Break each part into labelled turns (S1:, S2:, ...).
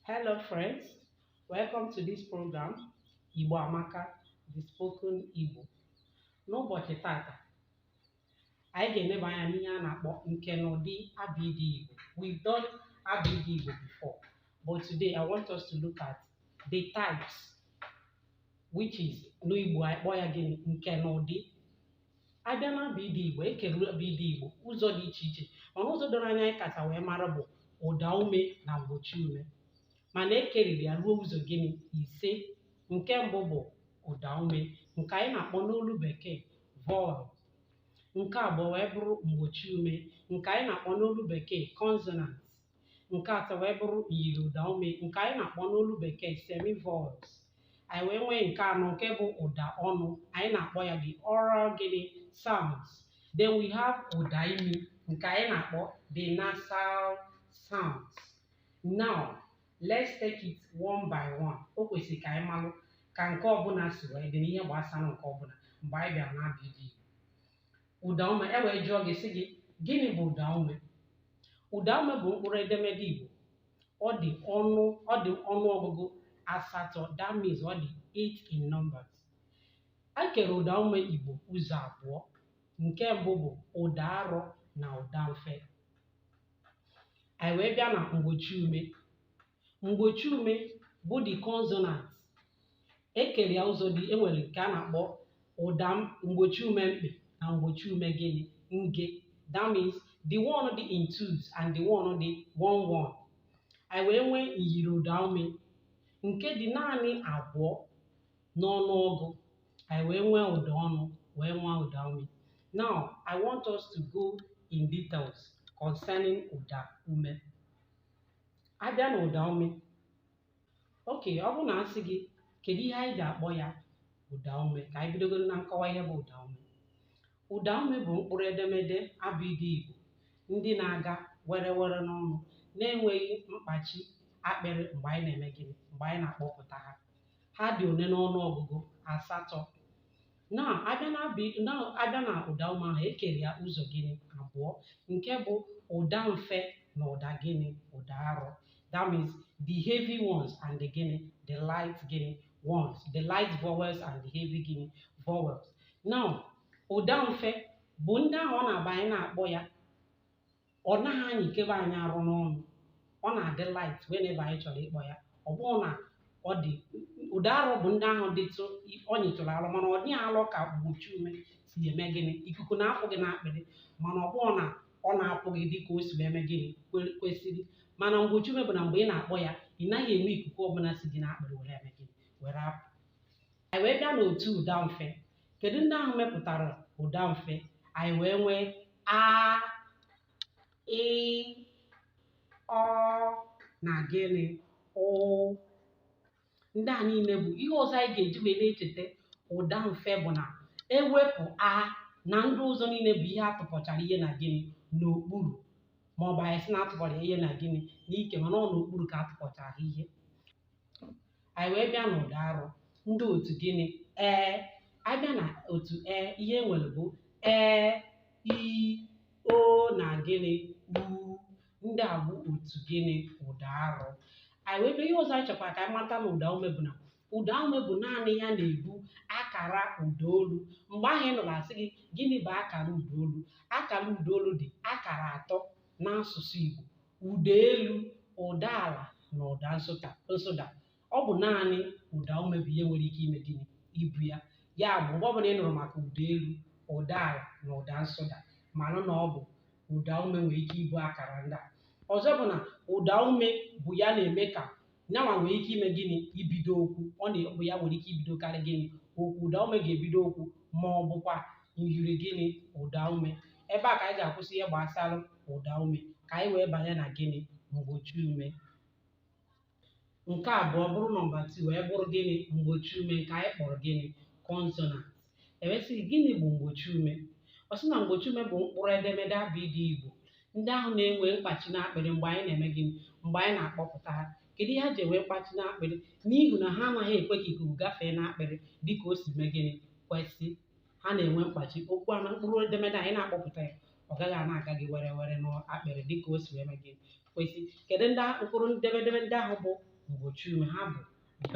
S1: Hello friends, welcome to this program Igbo Amaka, the spoken Igbo. N'ụbọchị tata, anyị ga-eneba anya n'ihe a na-akpọ nke na ụdị abịdị Igbo. We've done abịdị Igbo before, but today I want us to look at the types, which is n'Igbo anyị kpọọ ya gịnị nke na ụdị abịa na abịdị igbo ekere abịdị igbo ụzọ dị iche iche mana ụzọ doro anya anyị kacha wee mara bụ ụda ume na mgbochi ume mana ekeriri ya ruo ụzọ gịnị ise nke mbụ bụ ụda ume nke anyị na-akpọ n'olu bekee vowel nke abụọ wee bụrụ mgbochi ume nke anyị na-akpọ n'olu bekee consonants nke atọ wee bụrụ myiri ụda ume nke anyị na-akpọ n'olu bekee semivowels anyị wee nwee nke anọ nke bụ ụda ọnụ anyị na-akpọ ya the oral gịnị sounds then we have ụda imi nke anyị na-akpọ the nasal sounds now let's take it one by one o kwesịrị ka anyị malụ ka nke ọbụla si wee dị n'ihe gbasara nke ọbụla mgbe anyị bịara n'abịdị Ụdaume e wee jụọ gị sị gị gịnị bụ ụdaume? Ụdaume bụ mkpụrụ edemede Igbo. Ọ dị ọnụ ọ dị ọnụ ọgụgụ asatọ that means ọ dị eight in numbers. A kere ụdaume Igbo ụzọ abụọ. Nke mbụ bụ ụda arọ na ụda mfe. Anyị wee bịa na mgbochi ume. mgbochi ume bụ the consonant ekere ya ụzọ dị enwere nke a na-akpọ ụda m- mgbochi ume mkpị na mgbochi ume gịnị nge that means the one dị in twos and the one dị one one anyị wee nwee myiri ụda ume nke dị naanị abụọ n'ọnụọgụ anyị wee nwee ụda ọnụ wee nwee ụda ume now i want us to go in details concerning ụda ume abịa na ụda ume okay ọ bụrụ na a sị gị kedu ihe anyị ga-akpọ ya ụda ume ka anyị bidogoro na nkọwa ihe bụ ụda ume ụda ume bụ mkpụrụ edemede abịdị Igbo ndị na-aga were were n'ọnụ na-enweghị mkpachi akpịrị mgbe anyị na-eme gịnị mgbe anyị na-akpọpụta ha ha dị one n'ọnụ ọgụgụ asatọ na abịa na abụ na abịa na ụda ume ahụ ekere ya ụzọ gịnị abụọ nke bụ ụda mfe na ụda gịnị ụda arọ that means the heavy ones and the gịnị the light gịnị ones the light vowels and the heavy gịnị vowels now ụda mfe bụ ndị ahụ ọ na-abụ anyị na-akpọ ya ọ naghị anyịkebe anyị arụ n'ọnụ ọ na-adị light whenever anyị chọrọ ịkpọ ya ọ bụrụ na ọ dị ụda arọ bụ ndị ahụ dịtụ ọ nyịtụrụ alọ mana ọ dịghị alọ ka mgbochi ume si eme gịnị ikuku na-apụ gị n'akpịrị mana ọ bụrụ na ọ na-apụ gị dị ka o si eme gịnị kwe- kwesịrị mana mgbochi ume bụ na mgbe ị na-akpọ ya ị naghị enwe ikuku ọbụla si gị n'akpịrị were eme gịnị were apụ anyị wee bịa n'otu ụda mfe kedu ndị ahụ mepụtara ụda mfe anyị wee nwee a ị ọ na gịnị ụ ndị a niile bụ ihe ọzọ anyị ga-eji wee na-echeta ụda mfe bụ na ewepụ a na ndị ọzọ niile bụ ihe atụpọchara ihe na gịnị n'okpuru ma ọ bụ anyị sị na atụpọrọ ihe na gịnị n'ike mana ọ n'okpuru ka atụpọchara ihe anyị wee bịa n'ụda arụ ndị otu gịnị e abịa na otu e ihe e nwere bụ e i o na gịnị u ndị a bụ otu gịnị ụda arụ anyị wee bịa ihe ọzọ anyị chọkwara ka anyị mata na ụda ume bụ na ụda ume bụ naanị ya na-ebu akara ụda olu mgbe ahụ ị nụrụ asị gị gịnị bụ akara ụda olu akara ụda olu dị akara atọ n'asụsụ Igbo ụda elu ụda ala na ụda nsụda nsụda ọ bụ naanị ụda ume bụ ihe nwere ike ime gịnị ibu ya ya bụ mgbe ọbụla ị nụrụ maka ụda elu ụda ala na ụda nsụda malụ na ọ bụ ụda ume nwere ike ibu akara ndị a ọzọ bụ na ụda ume bụ ya na-eme ka nya nwa nwere ike ime gịnị ibido okwu ọ na-abụ ya nwere ike ibidokarị gịnị okwu ụda ume ga-ebido okwu ma ọ bụkwa myiri gịnị ụda ume ebe a ka anyị ga-akwụsị ihe gbasara ụda ume ka anyị wee banye na gịnị mgbochi ume nke abụọ bụrụ nọmba 2 wee bụrụ gịnị mgbochi ume nke anyị kpọrọ gịnị consonant e wee sị gịnị bụ mgbochi ume ọ sị na mgbochi ume bụ mkpụrụ edemede abịdịị Igbo ndị ahụ na-enwe mkpachi n'akpịrị mgbe anyị na-eme gịnị mgbe anyị na-akpọpụta ha kedu ihe ha ji enwe mkpachi n'akpịrị n'ihi na ha anaghị ekwe ka ikuku gafee n'akpịrị dịka o si mee gịnị kwesị ha na-enwe mkpachi okwu a na mkpụrụ edemede anyị na-akpọpụta ya ọ gaghị ana-aga gị werewere n'akpịrị dịka o si wee mee gịnị kwesị kedu ndị mkpụrụ edemede ndị ahụ bụ mgbochi ume ha bụ b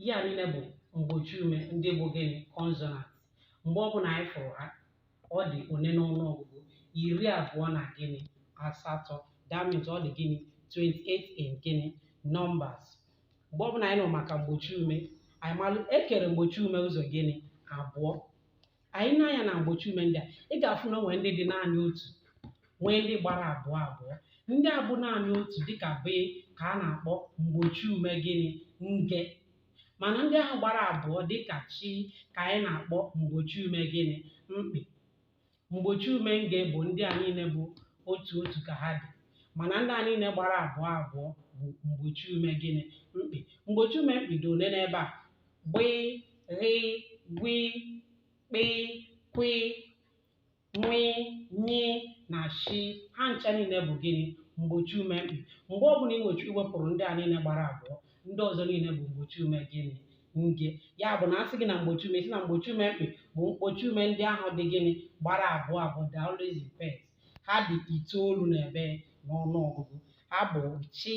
S1: ihe a niile bụ mgbochi ume ndị bụ gịnị consonant mgbe ọbụla anyị fụrụ ha ọ dị one n'ọnụ ọgụgụ iri abụọ na gịnị asatọ that means ọ dị gịnị 28 in gịnị numbers mgbe ọbụla anyị nụrụ maka mgbochi ume anyị malụ ekere mgbochi ume ụzọ gịnị abụọ anyị nee anya na mgbochi ume ndị a ị ga-afụ na o nwere ndị dị naanị otu nwee ndị gbara abụọ abụọ ndị a bụ naanị otu dịka be ka a na-akpọ mgbochi ume gịnị nge mana ndị ahụ gbara abụọ dịka chi ka anyị na-akpọ mgbochi ume gịnị mkpị mgbochi ume nge bụ ndị a niile bụ otu otu ka ha dị mana ndị a niile gbara abụọ abụọ bụ mgbochi ume gịnị mkpị mgbochi ume mkpị dị ole n'ebe a gbị ghị gwi kpị kwi nwị nyị na shi ha ncha niile bụ gịnị mgbochi ume mkpị mgbe ọbụla ị nwechi iwepụrụ ndị a niile gbara abụọ ndị ọzọ niile bụ mgbochi ume gịnị nge ya bụ na a sị gị na mgbochi ume sị na mgbochi ume mkpị bụ mgbochi ume ndị ahụ dị gịnị gbara abụọ abụọ they are always in pairs ha dị itoolu na ebe n'ọnụ ọgụgụ ha bụ chi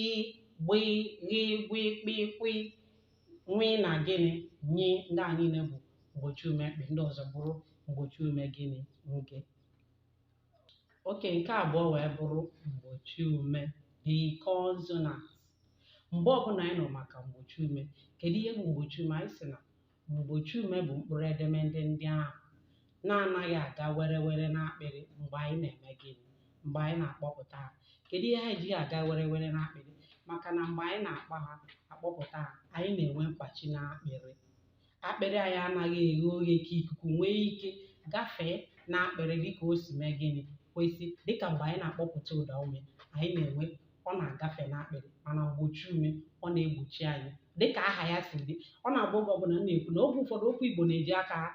S1: gbị ghị gwi kpị kwi nwị na gịnị nyị ndị a niile bụ mgbochi ume mkpị ndị ọzọ bụrụ mgbochi ume gịnị nge okay nke abụọ wee bụrụ mgbochi ume the consonant mgbe ọbụla anyị nụ maka mgbochi ume kedu ihe bụ mgbochi ume anyị sị na mgbochi ume bụ mkpụrụ edemede ndị ahụ na-anaghị aga were were n'akpịrị mgbe anyị na-eme gịnị mgbe anyị na-akpọpụta ha kedu ihe ha ejighị aga were were n'akpịrị maka na mgbe anyị na-akpọ ha akpọpụta ha anyị na-enwe mkpachi n'akpịrị akpịrị anyị anaghị eghe oghe ka ikuku nwee ike gafee n'akpịrị dịka o si mee gịnị kwesị dịka mgbe anyị na-akpọpụta ụda ume anyị na-enwe ọ na-agafe n'akpịrị mana mgbochi ume ọ na-egbochi anyị dịka aha ya si dị ọ na-abụ oge ọbụla m na-ekwu na oge ụfọdụ okwu Igbo na-eji aka ha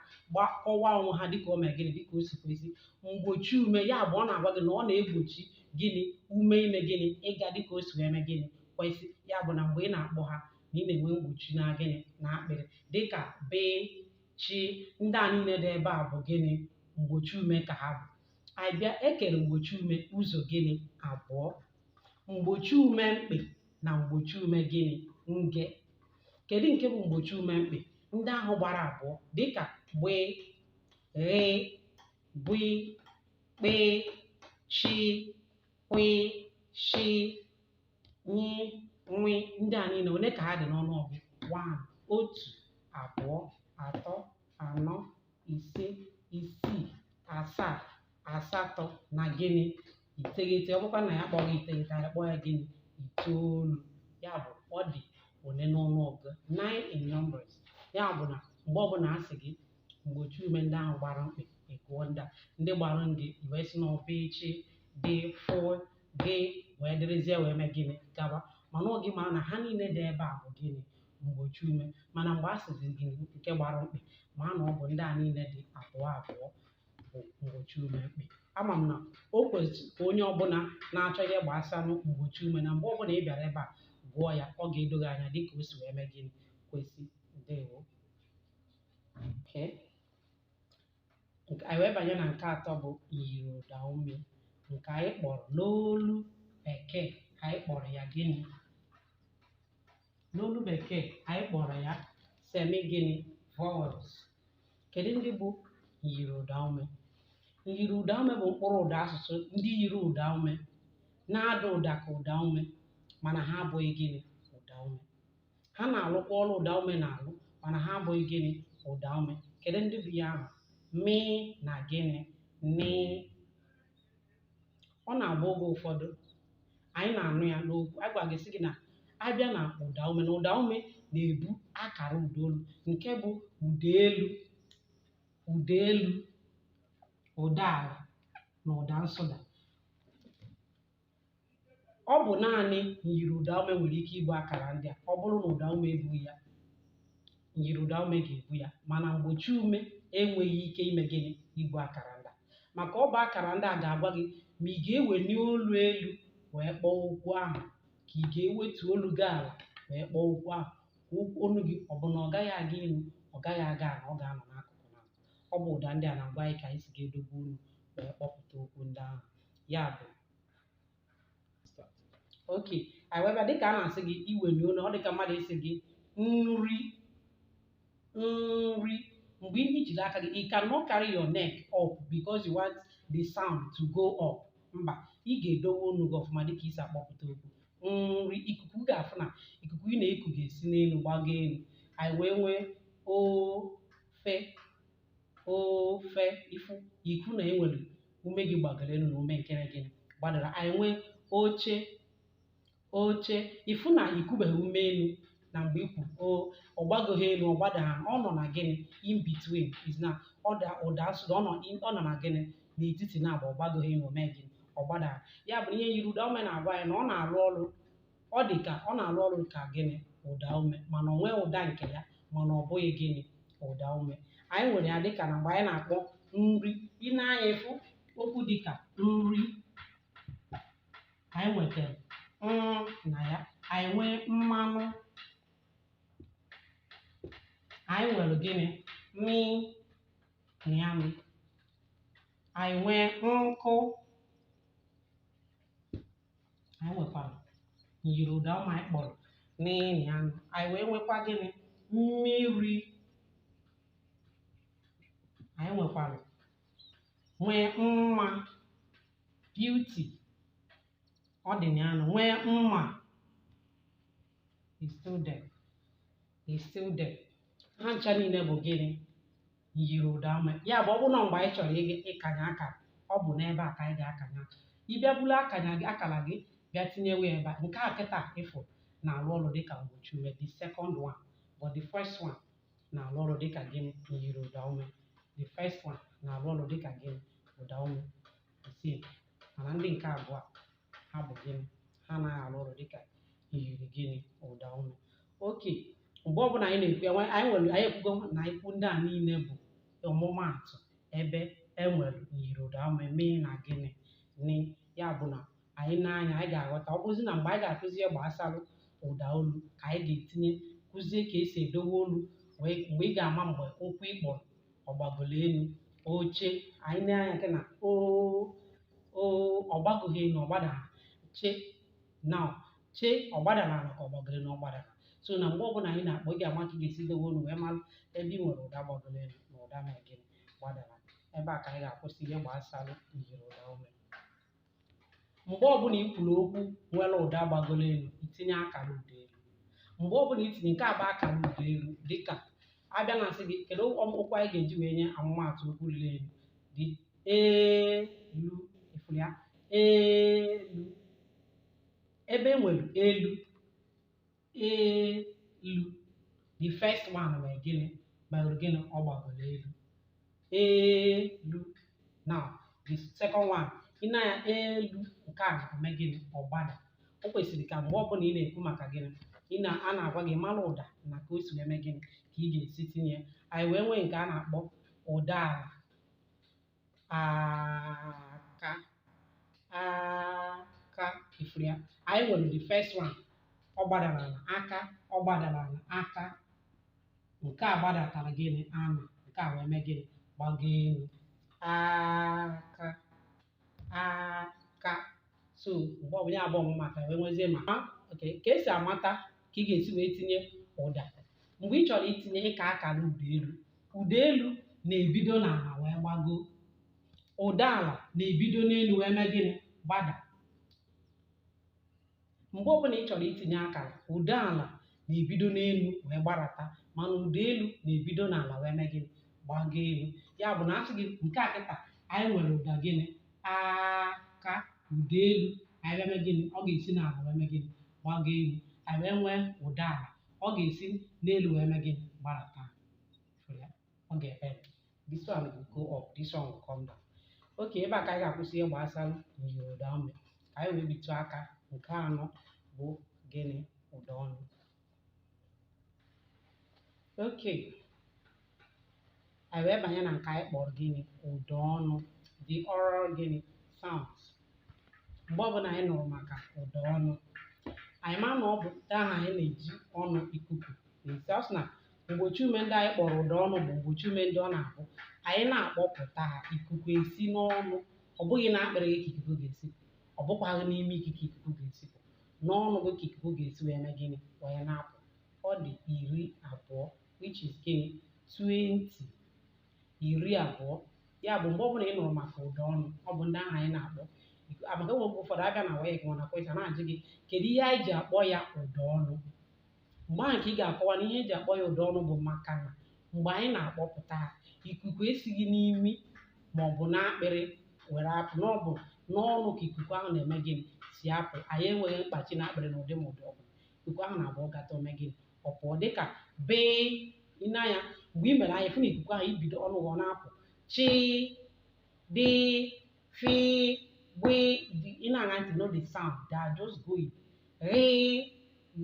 S1: akọwa onwe ha dịka o mee gịnị dịka o si kwesị mgbochi ume ya bụ ọ na-agwa gị na ọ na-egbochi gịnị ume ime gịnị ịga dịka o si wee mee gịnị kwesị ya bụ na mgbe ị na-akpọ ha na ị na-enwe mgbochi na gịnị na akpịrị dịka be chi ndị a niile dị ebe a bụ gịnị mgbochi ume ka ha bụ anyị bịa e kere mgbochi ume ụzọ gịnị abụọ mgbochi ume mkpị na mgbochi ume gịnị nge kedu nke bụ mgbochi ume mkpị ndị ahụ gbara abụọ dịka gbee ghee gwi kpee chi kwị shi nyi nwi ndị a niile ole ka ha dị n'ọnụọgụ one otu abụọ atọ anọ ise isii asaa asatọ na gịnị iteghete ọ bụkwa na anyị akpọghị ya iteghete anyị akpọọ ya gịnị itoolu ya bụ ọ dị ole n'ọnụọgụ nine in numbers ya bụ na mgbe ọbụla a sị gị mgbochi ume ndị ahụ gbara mkpị ị gụọ ndị a ndị gbara nge i wee si na be chi dị fị gị wee dịrịzie wee mee gịnị gaba mana ọ gị mara na ha niile dị ebe a bụ gịnị mgbochi ume mana mgbe a sịzi gị nke gbara mkpị ma na ọ bụ ndị a niile dị abụọ abụọ bụ mgbochi ume mkpị ama m na o kwesịrị ka onye ọbụla na-achọ ihe gbasanụ mgbochi ume na mgbe ọbụla ị bịara ebe a gụọ ya ọ ga-edo gị anya dịka o si wee mee gịnị kwesị ndewo okay. Nke- anyị wee banye na nke atọ bụ myiri ụda ume nke anyị kpọrọ n'olu bekee anyị kpọrọ ya gịnị n'olu bekee anyị kpọrọ ya semi gịnị vowels kedu ndị bụ myiri ụda ume myiri ụda ume bụ mkpụrụ ụda asụsụ ndị yiri ụda ume na-ada ụda ka ụda ume mana ha abụghị gịnị ụda ume ha na-alụkwa ọrụ ụda ume na-alụ mana ha abụghị gịnị ụda ume kedu ndị bụ ya ahụ mị na gịnị nị ọ na-abụ oge ụfọdụ anyị na-anụ ya n'okwu a gwara gị sị gị na abịa na ụda ume na ụda ume na-ebu akara ụda olu nke bụ ụda elu ụda elu ụda ala na ụda nsụda ọ bụ naanị myiri ụdaume nwere ike ibu akara ndị a ọ bụrụ na ụdaume ebughị ya myiri ụdaume ga-ebu ya mana mgbochi ume enweghị ike ime gịnị ibu akara ndị a maka ọ bụ akara ndị a ga-agwa gị ma ị ga-eweli olu elu wee kpọọ okwu ahụ ka ị ga-ewetu olu gị ala wee kpọọ okwu ahụ ka okwu olu gị ọ bụ na ọ gaghị aga elu ọ gaghị aga ala ọ ga-anọ n'akụkụ na ọ bụ ụda ndị a na-agwa anyị ka anyị si ga-edobe olu wee kpọpụta okwu ndị ahụ ya bụ okay anyị wee bịa dịka a na-asị gị iweli olu ọ dịka mmadụ ịsị gị nri nri mgbe ihe ijiri aka gị you cannot carry your neck up because you want the sound to go up mba ị ga-edowe olu gị ọfụma dịka i si akpọpụta okwu nri ikuku ga-afụ na ikuku ị na-eku ga-esi n'elu gbago elu anyị wee nwee ofe ofe ị fụ i kwuo na enwere ume gị gbagoro elu na ume nke na gịnị gbadara anyị nwee oche oche ị fụ na i kubeghị ume elu na mgbe i kwuru o ọ gbagoghị elu ọ gbadaghị ọ nọ na gịnị in between is na ọ da ụda nsụda ọ nọ in- ọ nọ na gịnị n'etiti na agba ọ gbagoghị elu o mee gịnị ọ gbadaghị ya bụ ihe myiri ụda ume na-agwa anyị na ọ na-arụ ọrụ ọ dị ka ọ na-arụ ọrụ ka gịnị ụda ume mana o nwere ụda nke ya mana ọ bụghị gịnị ụda ume anyị nwere ya dịka na mgbe anyị na-akpọ nri ị na- anyị fụ okwu dịka nri anyị nwetara mm na ya anyị nwee mmanụ anyị nwere gịnị mị na ya mị anyị nwee nkụ anyị nwekwara nyiri ụda ume anyị kpọrọ n'ịnị anụ anyị wee nwekwa gịnị mmiri anyị nwekwara nwee mma beauty ọ dị na anụ nwee mma is still there is still there ha ncha niile bụ gịnị nyiri ụda ume ya bụ ọ bụrụ na mgbe anyị chọrọ ịga- ịkanye akara ọ bụ n'ebe a ka anyị ga-akanye akara ị bịa buru akanya gị akara gị bịa tinyewe ebe a nke a kịta ịfụ na-arụ ọrụ dịka mgbochi ume the second one but the first one na-arụ ọrụ dịka gịnị nyiri ụda ume the first one na-arụ ọrụ dịka gịnị ụda ume mana ndị nke abụọ ha bụ gịnị ha anaghị arụ ọrụ dịka iyiri gịnị ụda ume oke mgbe ọbụla anyị na-ekwu anyị ekwugo na okwu ndị a niile bụ ọmụmaatụ ebe enwere iyiri ụda ume m na gịnị n ya bụ na anyị na-anụ ya anyị ga-aghọta ọ bụzi na mgbe anyị ga-akụzi ihe gbasara ụda olu ka anyị ga-etinye kụzie ka esi edowe olu mgbe ị ga-ama mgbe okwu ị kpọrọ ọ gbagolo elu oche anyị na-anụ ya nke na o o ọ gbagoghị elu ọ gbadara che now che ọ gbadara ala ka ọ gbagoro elu ọ gbadara so na mgbe ọbụla anyị na-akpọ ị ga-ama ka ị ga-esi dowe olu wee mara ebe ị nwere ụda gbagoro elu na ụda mere gịnị gbadara ebe a ka anyị ga-akwụsị ihe gbasara iyiri ụda ume mgbe ọbụla i kwuru okwu nwere ụda gbagoro elu itinye akara ụda elu mgbe ọbụla itinye nke a bụ akara ụda elu dịka abịa na asị gị kedu okwu anyị ga-eji wee nye ọmụmaatụ okwu ruru elu dị elu ifuru ya elu ebe e nwere elu elu the first one wee gịnị gbagoro gịnị ọ gbagoro elu elu now the second one ị na-anụ ya elu nke a na-eme gịnị ọ gbada o kwesịrị ka mgbe ọbụla ị na-ekwu maka gịnị ị na a na-agwa gị mara ụda na ka o si eme gịnị ka ị ga-esi tinye ya anyị wee nwee nke a na-akpọ ụda ala aka aka ifuru ya anyị nwere the first one ọ gbadara ala aka ọ gbadara ala aka nke a gbadatara gịnị ana nke a wee mee gịnị gbago elu aka aka so mgbe ọbụla abụọ m maka wee nwezie ma ha oke ka esi amata ka ị ga-esi wee tinye ụda mgbe ị chọrọ itinye ịka akara ụda elu ụda elu na-ebido n'ala wee gbago ụda ala na-ebido n'elu wee mee gịnị gbada mgbe ọbụla ị chọrọ itinye akara ụda ala na-ebido n'elu wee gbarata mana ụda elu na-ebido n'ala wee mee gịnị gbago elu ya bụ na a sị gị nke a kịta anyị nwere ụda gịnị aka ụda elu anyị wee mee gịnị ọ ga-esi n'ala wee mee gịnị gbago elu anyị wee nwee ụda ala ọ ga-esi n'elu wee mee gịnị gbarata fụrụ ya? ọ ga-ebend this one will go up this one will come down okay ebe a ka anyị ga-akwụsị ihe gbasara myiri ụda ume ka anyị wee bitụ aka nke anọ bụ gịnị ụda ọnụ okay anyị wee banye na nke anyị kpọrọ gịnị ụda ọnụ the oral gịnị sounds mgbe ọbụla anyị nụrụ maka ụda ọnụ anyị ma na ọ bụ ụda ahụ anyị na-eji ọnụ ikuku na-esi ọ sị na mgbochi ume ndị anyị kpọrọ ụda ọnụ bụ mgbochi ume ndị ọ na-abụ anyị na-akpọpụta ha ikuku esi n'ọnụ ọ bụghị n'akpịrị gị ka ikuku ga-esi ọ bụkwaghị n'imi gị ka ikuku ga-esi pụ n'ọnụ gị ka ikuku ga-esi wee mee gịnị wee na-apụ ọ dị iri abụọ which is gịnị 20 iri abụọ ya bụ mgbe ọbụla ị nụrụ maka ụda ọnụ ọ bụ ndị ahụ anyị na-akpọ iku- a, maka e nwere mgbe ụfọdụ a bịa na WAEC mana question na-ajụ gị kedu ihe anyị ji akpọ ya ụda ọnụ mgbe ahụ ka ị ga-akọwa na ihe e ji akpọ ya ụda ọnụ bụ maka na mgbe anyị na-akpọpụta ha ikuku esighị n'imi ma ọ bụ n'akpịrị were apụ na ọ bụ n'ọnụ ka ikuku ahụ na-eme gịnị si apụ anyị enweghị mkpachi n'akpịrị n'ụdị ma ụdị ọbụla ikuku ahụ na-abụ ọ gata o mee gịnị ọ pụọ dịka bee ị na-anụ ya mgbe i mere anyị afụ na ikuku ahụ ebido ọnụ gị ọ na-apụ chi di fi gbe ị na-aṅa ntị no the sound dey just go it ghi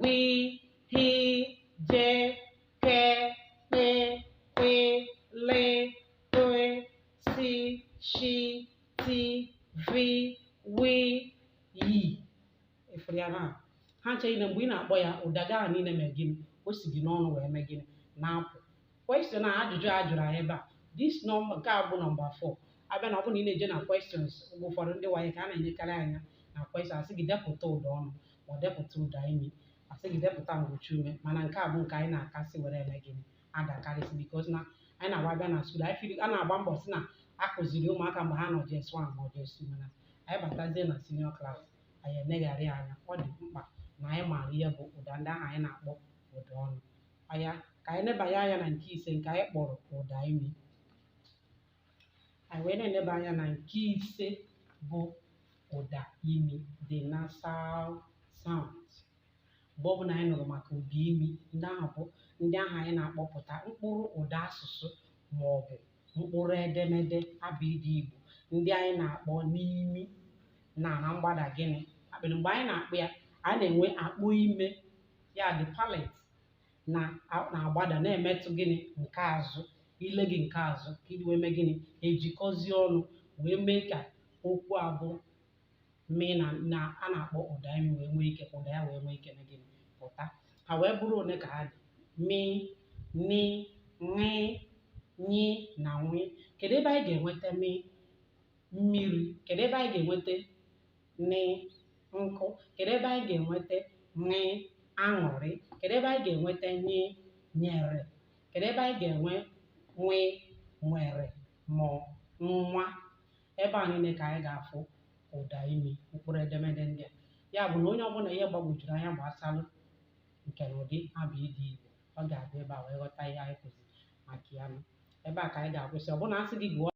S1: gwi hi je ke kpe kwe le toe si shi ti vi wi yi ị fụrụ ya na ha ncha niile mgbe ị na-akpọ ya ụda gị ahụ niile mee gịnị o si gị n'ọnụ wee mee gịnị na-apụ question a ajụjụ a jụrụ anyị ebe a this number nke a bụ nọmba 4 a bịa na ọ bụrụ na ị na-eje na questions mgbe ụfọdụ ndị WAEC a na-enyekarị anyị na question a sị gị depụta ụda ọnụ ma ọ depụta ụda imi a sị gị depụta mgbochi ume mana nke a bụ nke anyị na-akasị were eme gịnị adakarịsị because na anyị na-agba a bịa na school anyị feel a na-agba mbọ si na a kụziri ụmụaka mgbe ha nọ JS1 ma ọ JS2 mana anyị batazie na senior class anyị eleghara anya ọ dị mkpa na anyị maara ihe bụ ụda ndị ahụ anyị na-akpọ ụda ọnụ anya ka anyị nebanye anya na nke ise nke anyị kpọrọ ụda imi anyị wee na-eneba anya na nke ise bụ ụda imi the nasal sound mgbe ọbụla anyị nụrụ maka ụda imi ndị ahụ bụ ndị ahụ anyị na-akpọpụta mkpụrụ ụda asụsụ ma ọ bụ mkpụrụ edemede abịdị Igbo ndị anyị na-akpọ n'imi na na mgbada gịnị akpịrị mgbe anyị na-akpọ ya a na-enwe akpo ime ya the palate na a- na-agbada na-emetụ gịnị nke azụ ile gị nke azụ ka iji wee mee gịnị ejikọzie ọnụ wee mee ka okwu a bụ mee na na a na-akpọ ụda imi wee nwee ike ka ụda ya wee nwee ike mee gịnị pụta ha wee bụrụ one ka ha dị mi ni ṅị nyi na nwi kedu ebe anyị ga-enweta mi mmiri kedu ebe anyị ga-enweta nị nkụ kedu ebe anyị ga-enweta ṅị aṅụrị kedu ebe anyị ga-enweta nyi nyere kedu ebe anyị ga-enwe nwi nwere ma nwa ebe a niile ka anyị ga-afụ ụda imi mkpụrụ edemede ndị a ya bụ na onye ọbụla ihe gbagwojuru anya gbasalụ nke na ụdị abịdị Igbo ọ ga-abịa ebe a wee ghọta ihe anyị kụziri maka ya ebe a ka anyị ga-akwụsị ọ bụrụ na a sị gị gụọ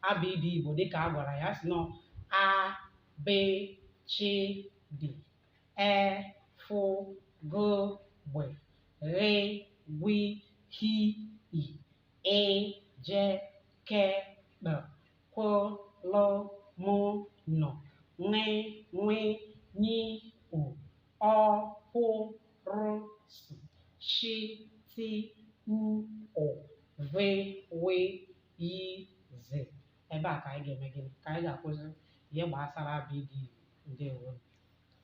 S1: abịdị Igbo dịka agwara ya si nọ a be chi dị e fụ go gbe ghị gwi hi i ị je ke kpe kwo lo mo nọ ṅị nwi nyi o ọ pụ rụ sụ shi ti u ụ ve we yi ze ebe a ka anyị ga-eme gịnị ka anyị ga-akwụsị ihe gbasara abịdị ndewo